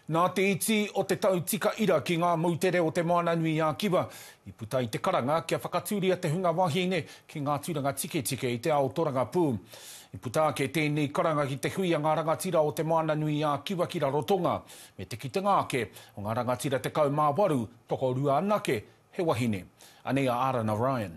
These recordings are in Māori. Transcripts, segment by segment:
Nā te iti o te tau tika ira ki ngā moutere o Te Moana-nui-ā-Kiwa, i puta i te karanga kia whakatūria te hunga wahine ki ngā tūranga tiketike i te ao torangapū. I puta ake tēnei karanga ki te hui a ngā rangatira o Te Moana-nui-ā-Kiwa ki Rarotonga, me te kitenga ake o ngā rangatira 18, tokorua anake he wahine. Anei a Arana Ryan.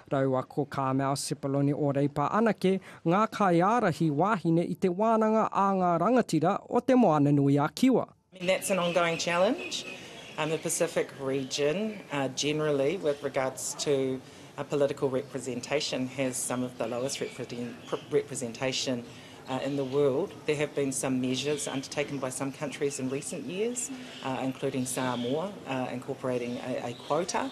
Raua ko Carmel Sepuloni o Reipa anake ngā kaiārahi wāhine i te wānanga a ngā rangatira o Te Moananui-a-Kiwa. I mean that's an ongoing challenge in the Pacific region generally with regards to political representation has some of the lowest representation in the world. There have been some measures undertaken by some countries in recent years including Samoa incorporating a quota.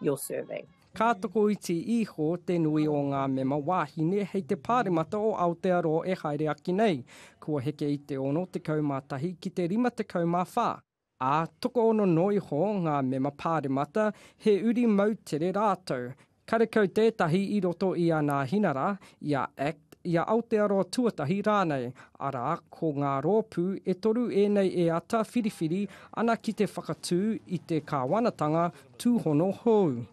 your survey. Ka tokoiti iho te nui o ngā mema wāhine hei te Pāremata o Aotearoa e haere ake nei, kua heke i te 61 ki te 54, ā, tokoono noa iho ngā mema Pāremata, he uri moutere rātou. Karekau tētahi i roto i ana hinara, i a Act i a Aotearoa tuatahi rānei, arā, ko ngā rōpū e toru ēnei e āta whiriwhiri ana ki te whakatū i te kāwanatanga tūhono hou.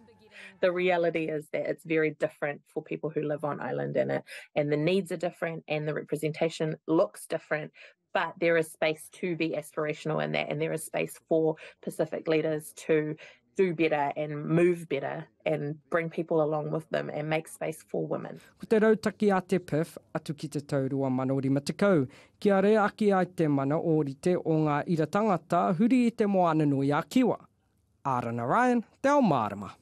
The reality is that it's very different for people who live on island and the needs are different and the representation looks different, but there is space to be aspirational in that, and there is space for Pacific leaders to do better and move better and bring people along with them and make space for women. Ko te rautaki a te PIF atu ki te tau 2050, kia rea ake ai te mana ōrite o ngā ira tangata huri i te moana nui a Kiwa. Arana Ryan, Te Ao Mārama.